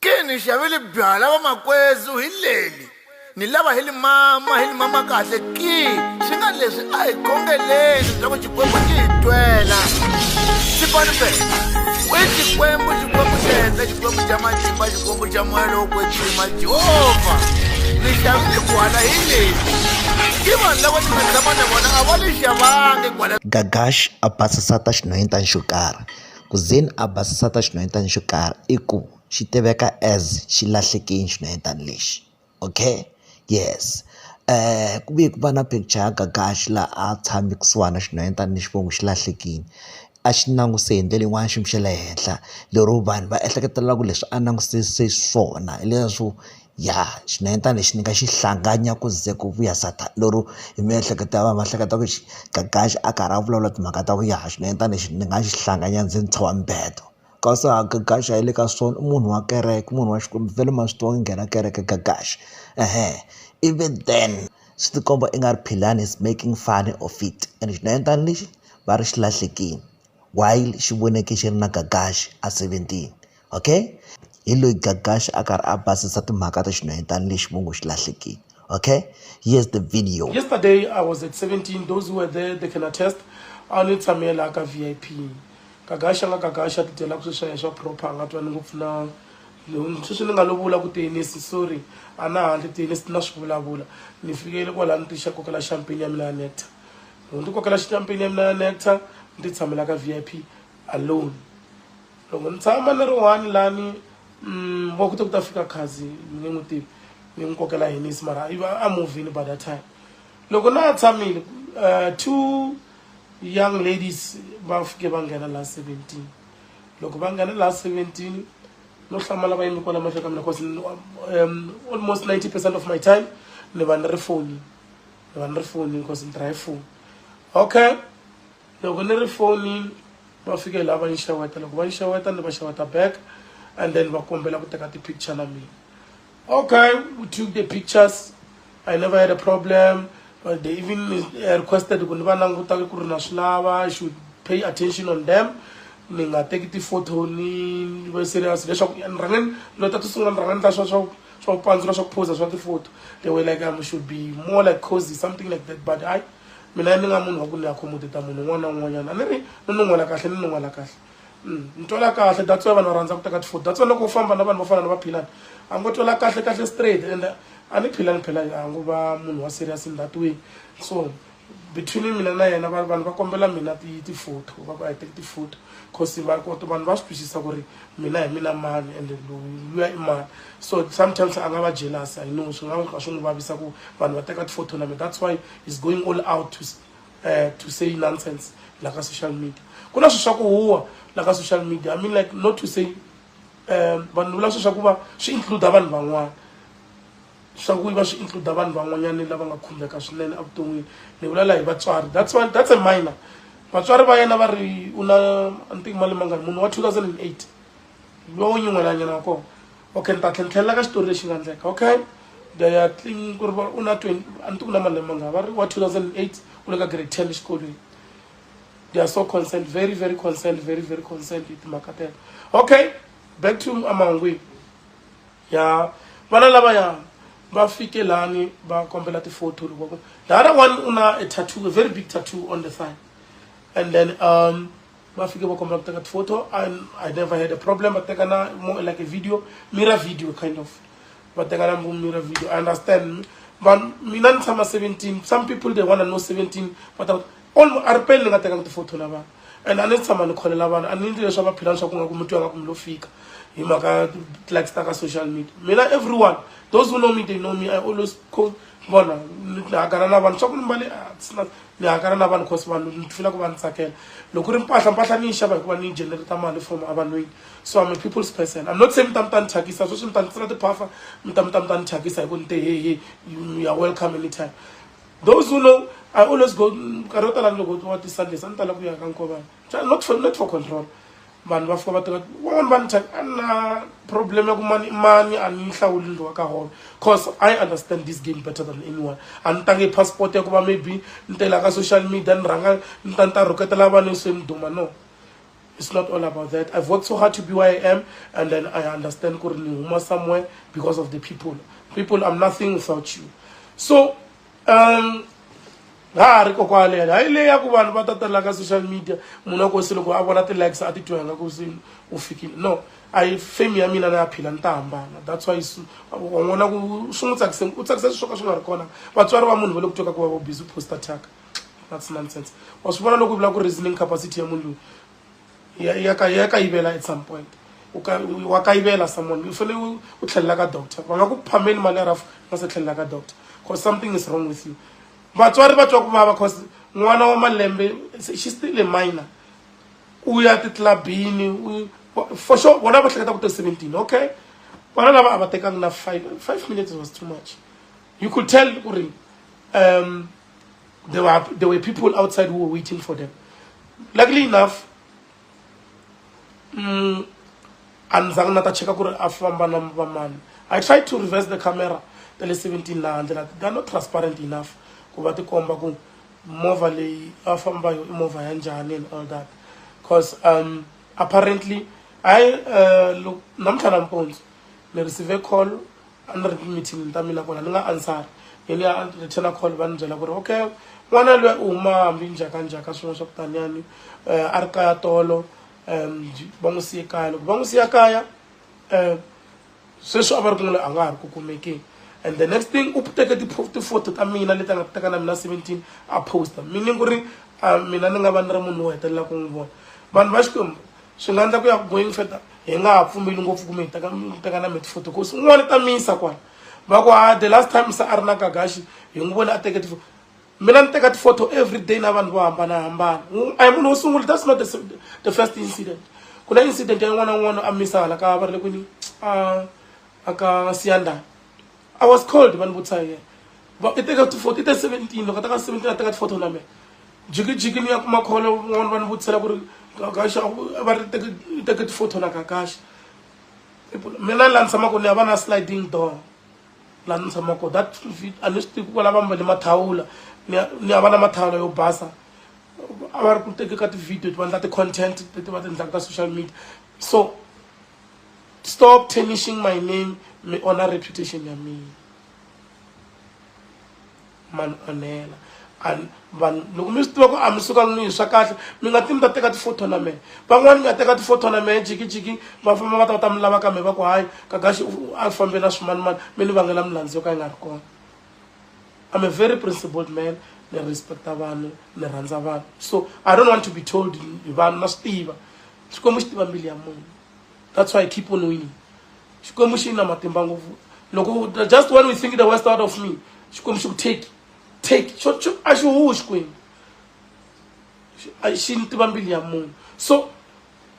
Ke ni xavele byala va makwezu hi leli ni lava hi li mama hi li mama kahle ki swi nga leswi a hi khongeleni bya ku xikwembu xi hi twela xipani fe we xikwembu xikwembu xa henhla xikwembu xa matimba xikwembu xa moya lowo kwetsima jehovha ni xavile gwala hi leli i vanhu lava ni nga tshama na vona a va li xavangi gwala gagash a basisa ta xinhoyini ta nxukara Ku ze ni a basisa ta xinhwanyetana xo karhi i ku xi tiveka as xi lahleke hi xinhwanyetana lexi okay yes ku ve ku va na picture ya Gagash laha a tshame kusuhana na xinhwanyetana lexi va ngo xi lahlekile a xi languse hi ndlela yin'wani xiyimo xa le henhla lero vanhu va ehleketelela ku leswi a langusise swona hi leswo. ya xinendzani lexi ni nga xi hlanganya ku ze ku vuya Sathana lero hi miehleketo ya vona va hleketa ku xi Gagax a karhi a vulavula timhaka ta ku ya hi xinendzani lexi ni nga xi hlanganya ndzi ndzi tshova mibedo kasi a Gagax a hi le ka sono i munhu wa kereke munhu wa Xikwembu vhele ma swi tiva ku nghena kereke Gagax ehe ivi then swi ti komba i nga ri Philani is making funny of it and xinendzani lexi va ri xi lahlekile while xi voneke xi ri na Gagax a seventeen. okay hi loyi Gagash a karhi a basisa timhaka ta xinhwanyetana lexi vo ngo xi lahlekile okay here's the video yesterday i was at 17 those who were there they can attest a ni tshame laha ka v i p Gagash a nga Gagash a tidyela ku sweswiya swa proper a nga twani ngopfu na sweswi ni nga lovula ku tenisi sorry a na handle tenisi na swi vulavula ni fikele kwalaha ni tixa kokela champagne ya mina ya nectar loko ni kokela champagne ya mina ya nectar ni ti tshamela ka v i p alone loko ni tshama ni ri one lani mm, va kute ku ta fika khazi ni nge n'wi tivi ni n'wi kokela hinisi mara a movini by that time loko na ha tshamile uh, two young ladies va fike va nghena laha seventeen loko va nghena laha seventeen no hlamala va yimi kwala mahlweni ka mina cause um, almost ninety percent of my time ni va ni ri foni ni va ni ri foni cause ni tirha hi foni okay loko ni ri fonini va fike laha va ni xeweta loko va ni xeweta ni va xeweta back and then va kombela ku teka ti-picture na mina okay we took the pictures i never had a problem but they even uh, requested ku ni va languta ku ri na swi lava i should pay attention on them ni nga teki ti-photo ni va serious leswaku ni rhange lo ta to sungula ni rhange ni ta swa swa swa ku pandzula swa ku phosa swa ti-photo they were like i um, should be more like cozy something like that but i mina ni nga munhu wa ku ni accommodata munhu un'wana na un'wanyana a ni ri ni nun'wela kahle ni nun'wela kahle mm, ni twela kahle that's why vanhu va rhandza ku teka tifoni that's why loko u famba na vanhu vo fana na vaphilani a ngo twela kahle kahle straight and a ni philani phela a ngo va munhu wa serious in that way so between mina na yena vanhu va kombela mina ti-photo va ku a hi teki ti-photo cause vanhu va swi twisisa ku ri mina hi mina mani ende luya i mani so sometimes a nga va jealous i know swi nga ka swi n'wi vavisa ku vanhu va teka tifotho na mina that's why is going all out to, uh, to say nonsense la ka social media ku na swi swa ku huwa la ka social media i mean like not to say um vanhu vula swi swa ku va swi includa vanhu van'wana swa ku va swi includa vanhu van'wanyana lava nga khumbeka swinene evuton'wini ni vulela hi vatswari that's one that's a minor vatswari va yena va ri u na ntingo mali mangani munhu wa 2008 lowo nyin'welanyana wa kona okay ni ta tlhe ni tlhelela ka xitori lexi nga ndleka okay ya tling ku ri va u na 20 a ni tiku na malembe mangani va ri wa 2008 u le ka grade 10 exikolweni they are so concerned very very concerned very very concerned hi timhaka tena okay back to amahungwini ya vana lavaya va fike lani va kombela ti-photo loko ku the other one u na a tattoo a very big tattoo on the thigh and then um va fike va kombela ku teka ti-photo and i never had a problem va teka na more like a video mirror video kind of va teka na mirror video i understand vanhu mina ni tshama 17 some people they wanna know 17 but olu a ri peli ni nga tekanga tifotho la vanhu and a ni tshama ni kholela vanhu a ni ndli leswi a va philani swa ku nga ku mutwi anga ku mi lo fika hi mhaka likes ta ka social media mina everyone those who know me they know me i always call vona ni hakana na vanhu swa ku ni mbale ni hakana na vanhu cause vanhu ni fila ku va ni tsakela loko ri mpahla mpahla ni yi xava hikuva ni yi generata mali from avanwini so i'm a people's person i'm not saying mi ta mi ta ni thyakisa sweswi mi ta ni tsela tiphafa mi ta mi ta mi ta ni thyakisa hi ku ni te hehe you are welcome anytime those who know i always go nkarhi yo tala loko wa ti-sundays a ni tala ku ya ka nkovana not for not for control vanhu va fika va tiva van'wana va ni than a ni na problem ya ku mani mani a ni hlawuli ndlo wa ka holo cause i understand this game better than anyone a ni tange passport ya ku va maybe ni tela ka social media ni rhanga ni ta ni ta rhuketela vanhu se ni duma no it's not all about that i've worked so hard to be where i am and then i understand ku ri ni huma somewhere because of the people people i'm nothing without you so um ha ha ri kokwale yale hayi leyi ya ku vanhu va tatala ka social media munhu a ku se loko a vona ti-likes a titwa yanga ku se u fikile no a yi fame ya mina na ya phila ni ta hambana that's why wan'wana ku swi n'wi tsakise u tsakisa swi swo ka swi nga ri kona vatswari va munhu va le ku twa ka ku va vo busy poster taka that's nonsense wa swi vona loko u vula ku reasoning capacity ya munhu loyi ya kayivela at some point wa kayivela someone u fanele u tlhelela ka doctor va nga ku phameli mali ya rafu nga se tlhelela ka doctor because something is wrong with you vatswari va twa ku vava because n'wana wa malembe she still a minor u ya titlabini for sure vona va hleketa ku to seventeen okay vana lava a va tekangi na five five minutes was too much you could tell ku ri um There were, there were people outside who were waiting for them. Luckily enough, mm, I tried to reverse the camera tale 17 laha handle lati they're not transparent enough ku va tikomba ku movha leyi a famba yo i movha ya njhani and all that because um, apparently hayi uh, namuntlha nampundzu ni receive call a ni ri meeting ta mina kona ni nga ansari yeni ya return call va ni byela ku ri okay n'wana lwe u huma hambi njhaka njhaka swin'wana swa ku taniyani um a ri kaya tolo um va n'wi siye kaya loko va n'wi siya kaya um sweswi a va ri ku n'wini a nga ha ri ku kumekeni and the next thing u teke tifoto ta mina leti a nga teka na mina seventeen a posta meaning ku ri mina ni nga va ni ri munhu wo hetelela ku n'wi vona vanhu va xikwembu swi nga endla ku ya ku going further hi nga ha pfumeli ngopfu kumbe hi teka mi teka na miti futhi kosi un'wana ta misa kwala va ku ha the last time se a ri na gagaxi hi n'wi vone a teke tifo mina ni teka tifotho every day na vanhu vo hambanahambana a hi munhu wo sungula that's not the, the first incident ku na incident ya n'wana n'wana a misa hala ka va ri le kwini a a ka siyandani i was called va ni vutisa ye va i teka ti photo i te seventeen loko a teka seventeen a teka ti photo na me jikijiki ni ya kuma kholo un'wana va ni vutisela ku ri kakaxa va ri teke i teke ti photo na kakaxa mina laha ni tshamaka ni ya va na sliding door laha ni tshamaka that a ni swi tivi ku lava mbale mathawula ni ya ni ya va na mathawula yo basa a va ri ku teke ka ti-video ti va endla ti-content leti va ti endlaka ka social media so stop tarnishing my name mi onha reputation ya mina man onhela and vanhu loko mi swi tiva ku a mi sukangi ni hi swa kahle mi nga timi ta teka tifotho na mehe van'wani nga teka tifotho na mehe jikijiki va famba va ta va ta mi lava ka mehe va ku hayi kagaxi a fambe na swimanimani mi ni vangela milandzu yo ka yi nga ri kona i'm a very principled man ni respecta vanhu ni rhandza vanhu so i don't want to be told hi vanhu na swi tiva xikwembu xi tiva mbilu ya munhu that's why i keep on winning xikwembu xi na matimba ngopfu loko just when we think the west out of me xikwembu xi ku take take xo xo a xi huwi xikwembu xi ni tiva mbilu ya munhu so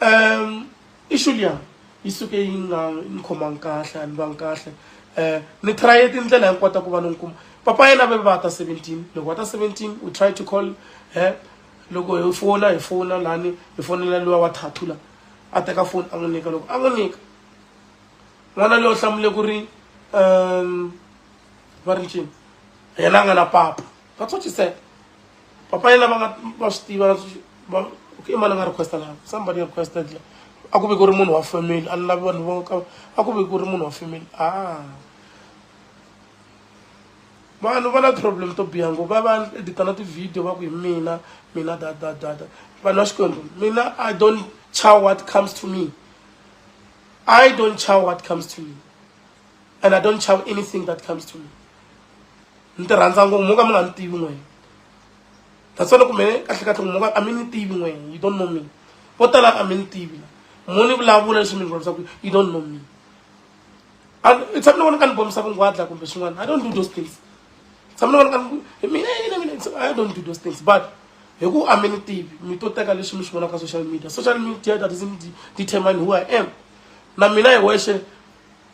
um issue liya yi suke yi nga ni khomangi kahle a ni vangi kahle um ni traye tindlela hinkota ku va ni ni kuma papa yena ve va ta seventeen loko va ta seventeen we try to call her loko hi fona hi fona lani hi fonela luwa wa thathu la a teka foni a n'wi nyika loko a n'wi nyika n'wana loyi u hlamule ku ri um va ri ncini yena a nga na papa va tsotxiseka papa yena va nga va swi tiva i mani a nga requesta laha somebody requested la a ku ve ku ri munhu wa family a ni lavi vanhu vo ka a ku ve ku ri munhu wa family a ah. vanhu va na problem to biha ngo va va edita na ti-video va ku hi mina mina dadadada vanhu va xikwembu mina i don't chow what comes to me i don't chow what comes to me and i don't chow anything that comes to me ni ti rhandza ngo mo ka mi nga ni tivi n'wena that's why loko mene kahle kahle ngo mo ka a mi ni tivi n'wena you don't know me vo tala a mi ni tivi mo ni vulavula leswi mi ni vulavusa ku you don't know me tshami ni vona ka ni bomisa vungwadla kumbe swin'wana i don't do those things tshami ni vona ka hi mina yini mina i don't do those things but hi ku a mi ni tivi mi to teka leswi mi swi vonaka ka social media social media that is determine who i am na mina hi wexe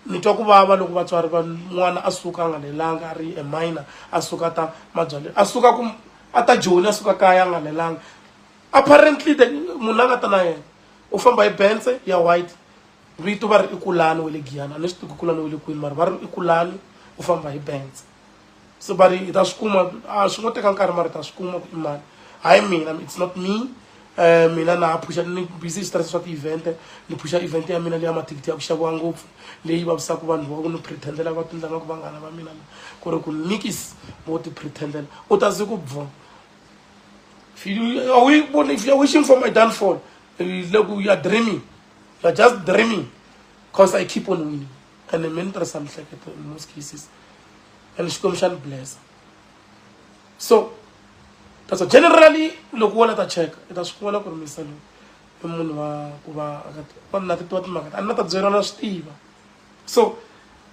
ni twa ku vava loko vatswari va n'wana a suka a nga lelanga a ri eminor a suka ta mabyale a suka ku a ta joni a suka kaya a nga lelanga apparently munhu a nga ta na yena u famba hi bense ya white vito va ri i kulani wa le giyana ni swi tivi kulani wa le kwini mara va ri i kulani u famba hi benz so va ri hi ta swi kuma a swi ngo teka nkarhi mara hi ta swi kuma ku i mani hayi mina it's not me um mina na phusha ni busy hi switirhisa swa ti-event ni phusha event ya mina leya mathikithi ya ku xaviwa ngopfu leyi vavisaka vanhu va ku ni pretendela va tindlanga ku vanghana va mina ku ri ku nikis vo ti pretendela u ta ze ku bvona are we wishing for my downfall le ku ya dreaming you're just dreaming because i keep on winning and mi ni tirhisa mihleketo in most cases and xikwembu xa ni blessa so that's generally loko wona ta cheka i ta swi vona ku ri misa loyi i munhu wa ku va a na titiwa timhaka a ni na ta byeriwa na swi tiva so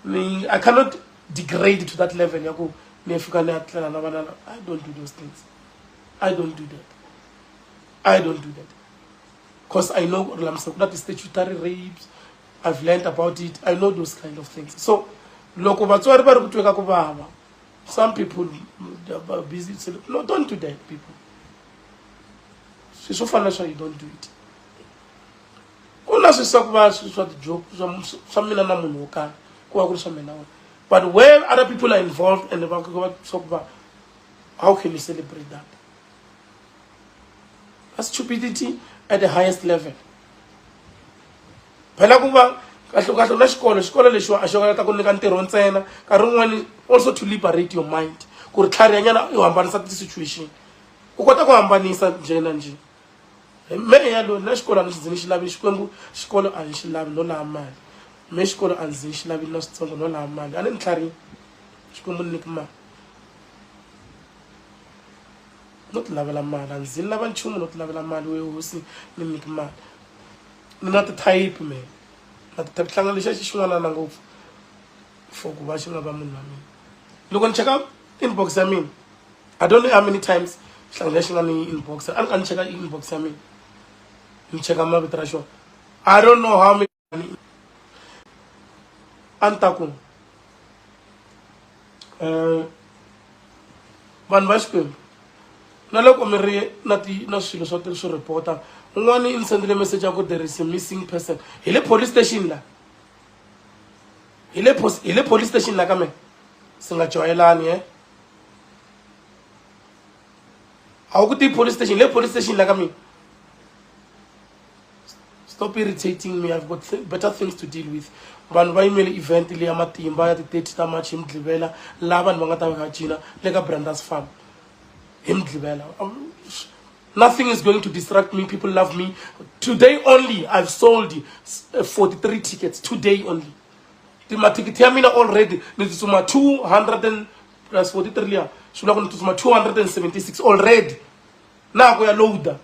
ni i cannot degrade to that level ya ku ni ya fika ni ya tlela na vana i don't do those things i don't do that i don't do that because i know gore lamisa ku na ti-statutory rapes i've learned about it i know those kind of things so loko vatswari va ri ku tweka ku vava some people are busy no don't do that people swi swo fana swa you don't do it ku na swisa ku va swa tijoke swa mina na munhu wo karhi ku va ku ri swa mina wena but where other people are involved and va swa ku va how can you celebrate that a stupidity at the highest level phela ku va kahlekahle la xikolo xikolo lexiwa a xi nga ta ku nyika ntirho ntsena nkarhi wun'wani also to liberate your mind ku ri tlharihanyana u hambanisa ti-situation u kota ku hambanisa njhe na njhe me yalo na xikolo a ni xi ndzi ni xi lavi xikwembu xikolo a ni xi lavi no laha mali me xikolo a ndzi ni xi lavi na switsongo no laha mali a ni ni tlharihini xikwembu ni niki mali no ti lavela mali a ndzi lava nchumu no ti lavela mali we hosi ni nyiki mali ni na tithayiphi me na tithayiphi hlanga lexi a xi xin'wanana ngopfu for ku va xi nga va munhu wa mina loko ni cheka inbox ya mina i don't know how many times hlanga lexi nga ni inbox a ni ka ni cheka inbox ya mina ni cheka mavito ra xona i don't know how many a ni ta ku um eh, vanhu va xikwembu na loko mi ri na ti na swilo swa swi reporta un'wana i ni sendile message ya ku there is a missing person hi le police station la hi le hi le police station la ka mina si nga joyelani e a wu ku ti police station hi le police station la ka mina stop irritating me i've got th better things to deal with vanhu va yimele event leya matimba ya ti-thirty ta march hi mudlivela laha vanhu va nga ta va va cina le ka brandas farm hi mudlivela nothing is going to distract me people love me today only i've sold 43 eh, tickets today only mathikithi ya mina already ni tsutsuma 200 and plus 43 liya swi vula ku ni tsutsuma 276 already na ku ya loader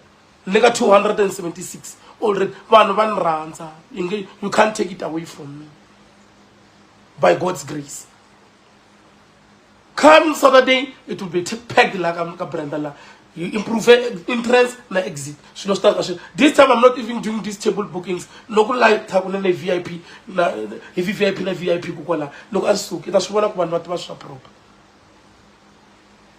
ni ka 276 already vanhu va ni rhandza yi nge you can't take it away from me by god's grace come saturday it will be peg la ka brenda la you improve entrance na exit swilo swi ta ka swi this time i'm not even doing these table bookings loko live ta ku na le vip na hi vip na vip ku kwala loko a suki ta swi vona ku vanhu va tiva swa proper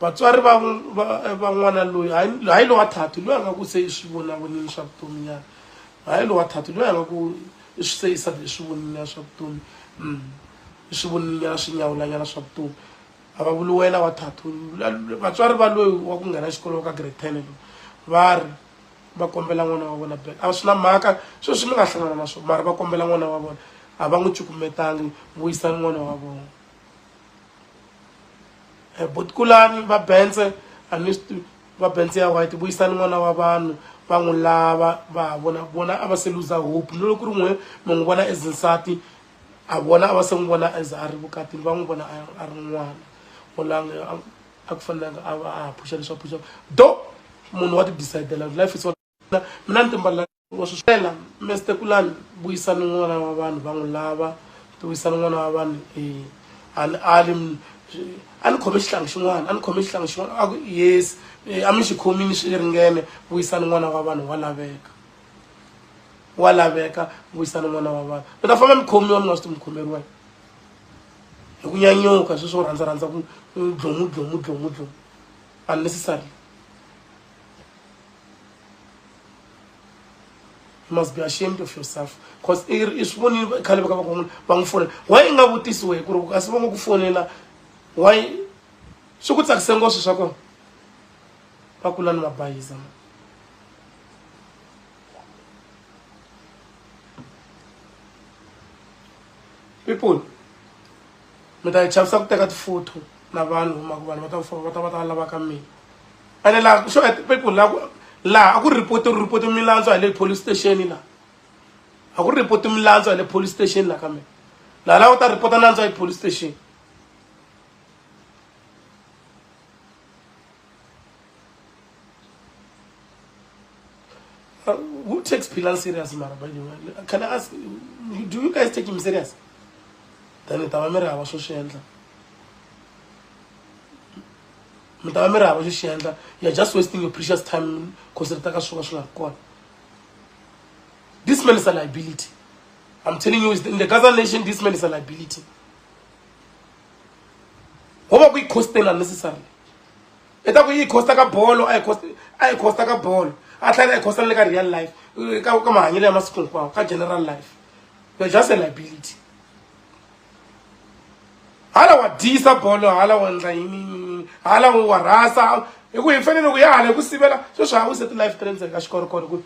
Vatswari va, va, va n'wana loyi, hayi lowa thatu, loyi a nga ku se eswivonavonini swa vutomi nyana, hayi lowa thatu, loyi a nga ku se isa eswivoninyana swa vutomi, mm. eswivoninyana swinyawulanyana swa vutomi, a va vuli wena wa thatu. Vatswari va loyi wa ku nghena xikolo wa ka grade ten loyi va ri va kombela n'wana wa vona bele, a swi na mhaka sweswi mi nga hlangana na swona, mara va kombela n'wana wa vona, a va n'wi cukumetangi, vuyisani n'wana wa vona. eh, butikulani va bense a ni swi va bense ya white vuyisani n'wana wa vanhu va n'wi lava va vona vona a va se luza hope ni loko ku ri n'we mi n'wi vona as nsati a vona a va se n'wi vona as a ri vukatini va n'wi vona a ri n'wana olanga a ku fanelanga a va a ha phuxa leswi a phuxaka do munhu wa ti-decidela life is mina ni timbalela ngo swi swela meste kulani vuyisani n'wana wa vanhu va n'wi lava ti vuyisani n'wana wa vanhu um a ni ali a ni khome xihlangi xin'wana a ni khome xihlangi xin'wana a ku yes eh, a mi xi khomini swi ringene vuyisani n'wana wa vanhu wa laveka wa laveka vuyisani n'wana wa vanhu mi ta famba mi khomiwa mi nga swi ti mi khomeriwa hi ku nyanyuka sweswi wo rhandza rhandza ku dlomu dlomu dlomu dlomu unnecessarily you must be ashamed of yourself because i swi vonile khale va ka va ku munhu va n'wi fonela why i nga vutisi wehe ku ri kasi va nga ku fonela why swi ku tsakise ngoswi swa kona va kula ni mabayiza people mi ta hi chavisa ku teka tifoto na vanhu huma ku vanhu va ta va ta va ta lava ka mina ene laha so at people laha laha a ku report ri report milandzu hi le police station laha a ku report milandzu hi le police station laha ka mina laha laha u ta report nandzu hi police station Uh, who takes Pilan serious, Mara, by the way? Can I ask, do you guys take him serious? Then it was social. mi ta va mi ri hava xo xi endla you're just wasting your precious time cause ri ta ka swi va swi nga ri kona this man is a liability i'm telling you in the gaza nation this man is a liability go ba ku yi costing unnecessarily e ta ku yi costa ka bolo a yi costa ka bolo a tlhela yi costa le ka real life ka mahanyelo ya masiku hinkwawo ka general life you're just a liability hala wa dyisa bolo hala wa endla yini hala wu wa rhasa hi ku hi fanele ku ya hala hi ku sivela sweswi ha wise ti-life ta le ndzeni ka xikorokoro ku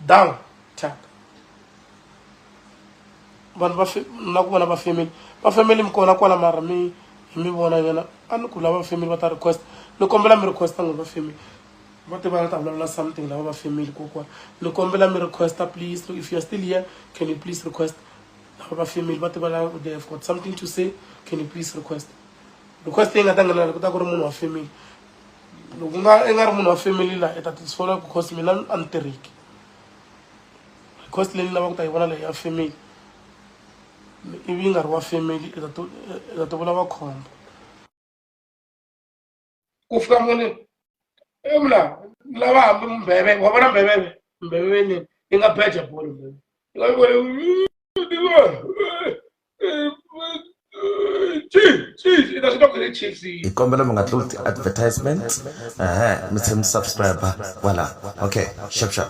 down tap vanhu va na ku vona va family va family mi kona kwala mara mi hi mi vona nyana a ni ku lava family va ta request ni kombela mi requesta n'wi va family va tiva ni ta vulavula something lava va family kokwana ni kombela mi requesta please if you're still here can you please request lava va family va tiva la they have got something to say can you please request request leyi nga ta nghenela ku ta ku ri munhu wa family loko nga i nga ri munhu wa family la i ta tisola ku cost mina a ni tirhiki cost leyi ni lava ku ta yi vona leyi ya family ivi yi nga ri wa family i ta to i ta to vulava khombo ku fika muni e mna lava hambi mbheve wa vona mbheveve mbheveve nini yi nga beja bolo mbheve yi nga vona hi kombela mi nga tluli ti-advertisement ehe mi tlhe mi subscribe kwala okay shap shap